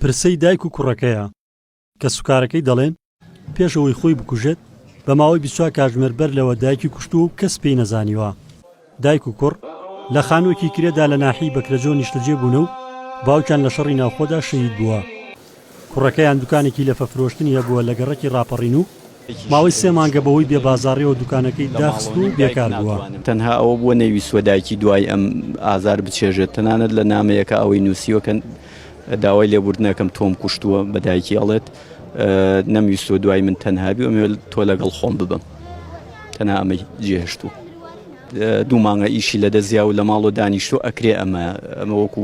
پرسەی دایک و کوڕەکەیە کە سوکارەکەی دەڵێن پێش ئەوەی خۆی بکوژێت بە ماوەی بیست و چوار کاتژمێر بەر لەوە دایکی کوشتووە و کەس پێی نەزانیوە. دایک و کوڕ لە خانووەکی کرێدا لە ناحیەی بەکرەجۆ نیشتەجێ بوونە و باوکیان لە شەڕی ناوخۆدا شەهید بووە. کوڕەکەیان دوکانێکی لەفە فرۆشتنی هەبووە لە گەڕەکی ڕاپەڕین و ماوەی سێ مانگە بەهۆی بێ بازاڕیەوە دوکانەکەی داخست و بێکار بووە. تەنها ئەوە بووە نەیویستووە دایکی دوای ئەم ئازار بچێژێت، تەنانەت لە نامەیەکە ئەوەی نوسیوە کە داوای لێبوردنەکەم تۆم کوشتووە، بە دایکی ئەڵێت نەمویستووە دوای من تەنهابی و ئەمەوێت تۆ لەگەڵ خۆم ببم تەنها ئەمەی جێهشتوو. دوو مانگە ئیشی لەدەستیا و لە ماڵەوە دانیشتووە ئەکرێ ئەمە ئەمە وەکو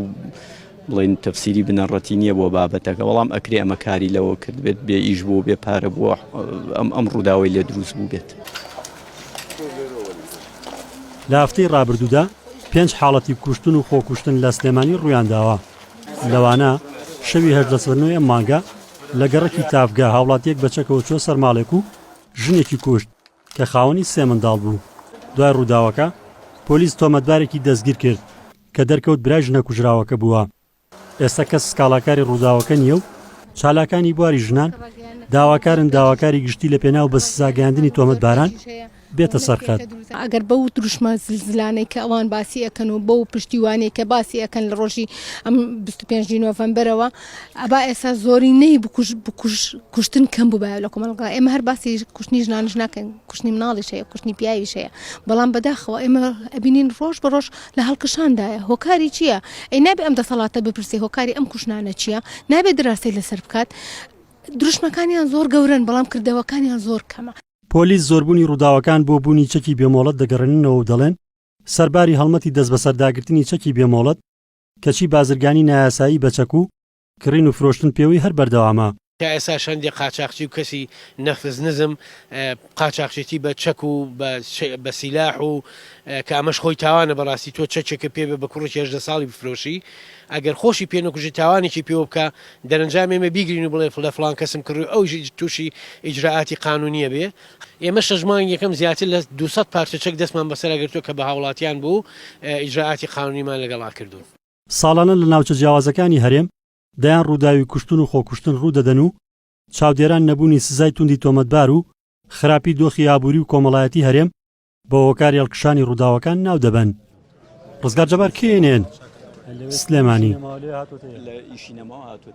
بڵێن تەفسیری بنەڕەتی نییە بۆ بابەتەکە بەڵام ئەکرێ ئەمە کاری لەوە کرد بێت بێ ئیش بوو بێ پارە بووە ئەم ئەم ڕووداوی لێ دروست بوو بێت. لە هەفتەی ڕابردوودا پێنج حاڵەتی کوشتن و خۆکوشتن لە سلێمانی ڕوویانداوە، لەوانە شەوی هەژدە سەرنۆی ئەم مانگە لە گەڕەکی تاڤگە هاوڵاتییەک بە چەکەوە چووە سەر ماڵێک و ژنێکی کوشت، کە خاوەنی سێ منداڵ بوو. دوای رووداوەکە، پۆلیس تۆمەتبارێکی دەستگیر کرد، کە دەرکەوت برای ژنە کوژراوەکە بووە. ئێستا کەس سکاڵاکاری رووداوەکە نییە و چالاکانی بواری ژنان داواکارن داواکاری گشتی لە پێناو بە سزاگەیاندنی تۆمەتباران بێتە سەر خەت. ئەگەر بەو دروشمە زلزلانەی کە ئەوان باسی ئەکەن و بەو پشتیوانیەی کە باسی ئەکەن لە ڕۆژی ئەم بیست و پێنج ی نۆڤەمبەرەوە، ئەبا ئێستا زۆرینەی بکوژ بکوژ کوشتن کەم بووبایە لە کۆمەڵگا ئێمە هەر باسی کوشتنی ژنانش ناکەین کوشتنی مناڵیش هەیە کوشتنی پیاویش هەیە بەڵام بەداخەوە ئێمە ئەبینین ڕۆژ بە ڕۆژ لە هەڵکشاندایە هۆکاری چییە ئەی نابێ ئەم دەسەڵاتە بپرسێ هۆکاری ئەم کوشنانە چییە نابێ دراسی لەسەر بکات دروشمەکانیان زۆر گەورن بەڵام کردەوەکانیان زۆر کەمە پۆلیس زۆربوونی ڕووداوەکان بۆ بوونی چەکی بێمۆڵەت دەگەڕێننەوە و دەڵێن، سەرباری هەڵمەتی دەستبەسەرداگرتنی چەکی بێمۆڵەت، کەچی بازرگانی نایاسایی بە چەک و کڕین و فرۆشتن پێوەی هەر بەردەوامە. تا ئێستاش هەندێ قاچاخچی و کەسی نەفس نزم قاچاخچێتی بە چەک و بە سیلاح و کە ئەمەش خۆی تاوانە بەڕاستی تۆ چەکێکە پێ بێ بە کوڕێکی هەژدە ساڵی بفرۆشی ئەگەر خۆشی پێ نەکوژی تاوانێکی پێوە بکا دەرەنجام ئێمە بیگرین و بڵێ لە فڵان کەسم کڕی و ئەویش تووشی ئیجرائاتی قانونییە بێ ئێمە شەش مانگ یەکەم زیاتر لە دوو سەد پارچە چەک دەستمان بەسەرا گرتووە کە بە هاوڵاتیان بوو و ئیجرائاتی قانونیمان لەگەڵا کردوون. ساڵانە لە ناوچە جیاوازەکانی هەرێم دەیان ڕووداوی کوشتن و خۆکوشتن ڕوودەدەن و چاودێران نەبوونی سزای توندی تۆمەتبار و خراپی دۆخی ئابووری و کۆمەڵایەتی هەرێم بە هۆکاری هەڵکشانی ڕووداوەکان ناو دەبەن. ڕزگار جەبار، کێ ئێن ئێن، سلێمانی.